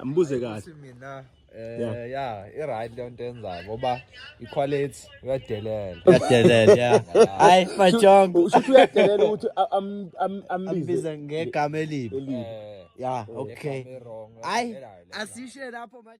Mbuze kahle. Ukuthi mina eh Yeah. ya i right le nto enzayo ngoba i quality uyadelela. Yadelela ya. Hayi majongo. Ushuthi uyadelela ukuthi a- am- am- ambize Ambiza ngegama elibi. elibi. Eh. Ya, okay. Hayi, asishe lapho manje.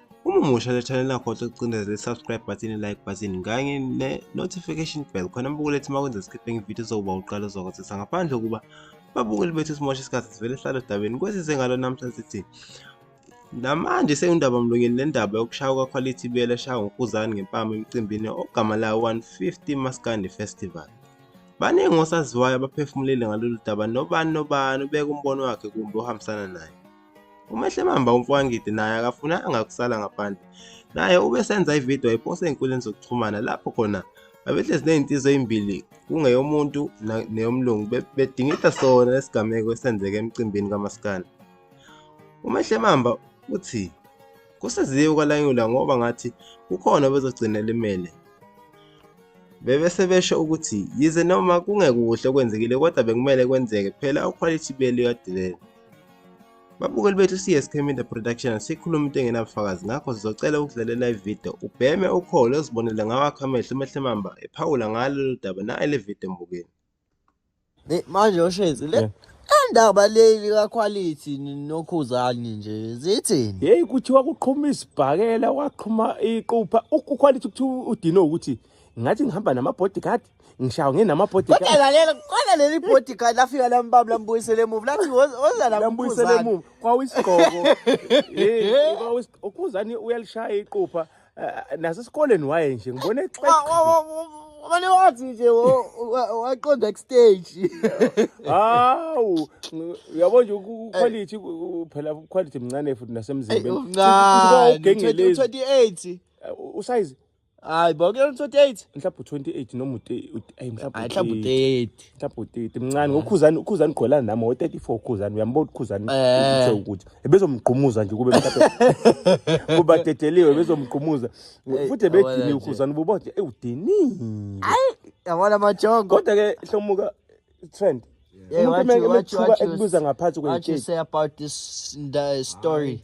Uma umusha le channel akhohlwe ukucindezela i-subscribe button, i-like button kanye ne-notification bell khona abukule ethi uma kwenza sikhiphe ngevidiyo zokuba uqala uzokwazisa ngaphandle kokuba babukeli bethu simosha isikhathi sivele sihlale odabeni kwesize ngalo namhla sithi namanje seyundaba mlonyeni le ndaba yokushaya kwakhwalithi ibiyela eshaya ngokuzani ngempama emcimbini ogama lawo 150 maskandi festival baningi osaziwayo abaphefumulile ngalolu daba nobani nobani ubeka umbono wakhe kumbe ohambisana naye UMehlemamba uMfowangidi naye akafunanga kusala ngaphandle. Naye ubesenza ivideo ayiposta ey'nkundleni zokuxhumana lapho khona babehlezi ney'nsizwa ey'mbili kungeyomuntu neyomlungu bedingida sona lesigameko esenzeke emcimbini kamaskandi. UMehlemamba uthi kusiziwe ukwalanyula ngoba ngathi kukhona obezogcina elimele. Bebese besho ukuthi yize noma kungekuhle okwenzekile kodwa bekumele kwenzeke phela ukhwalithi beli kadelele. Babukeli bethu CSK Media Production sikhuluma into engenabufakazi ngakho sizocela ukudlalela ivideo ubheme ukholo uzibonele ngawakho amehlo umehle mamba ephawula ngalo lolu daba naye le video mbukeni. Manje oshezi le indaba leli kakhwalithi nokhuzani nje zithini? Yeyi kuthiwa kuqhuma isibhakela kwaqhuma iqupha ukhwalithi kuthiwa udinwe ukuthi ngathi ngihamba nama-bodyguard ngishawa nginama-bodyguard kodwa lalela kodwa leli bodyguard lafika lambaba lambuyisele emuva lathi oza lambuyisele emuva kwawisigqoko ukhuzani uyalishaya iqupha eh, nasesikoleni waye nje ngibone Mane wathi nje waqonda kustage. Hawu, uyabo nje uquality phela uquality mncane futhi nasemzimbeni. Uncane. 28. Usize hayi bo ke 28 mhlawumbe 28 noma ayi mhlawumbe mhlawumbe 30 mhlawumbe 30 mncane ngokhuzani ukhuzani gqwelana nami wo 34 ukhuzani uyambona ukhuzani eh. uthe ukuthi ebezomgqumuza nje kube mhlawumbe kuba dedeliwe ebezomgqumuza futhi ebedini ukhuzani ubobode ewudini ayi yabona amajongo kodwa ke hlomuka trend umuntu meke mekuba ekubuza ngaphansi kwe what you say about this uh, story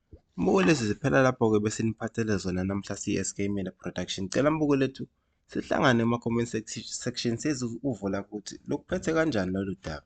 Mbuko lezi ziphela lapho ke bese niphathele zona namhla CSK Media Production. Cela mbuko lethu sihlangane ema comment section sezi uvula ukuthi lokuphethe kanjani lolu daba.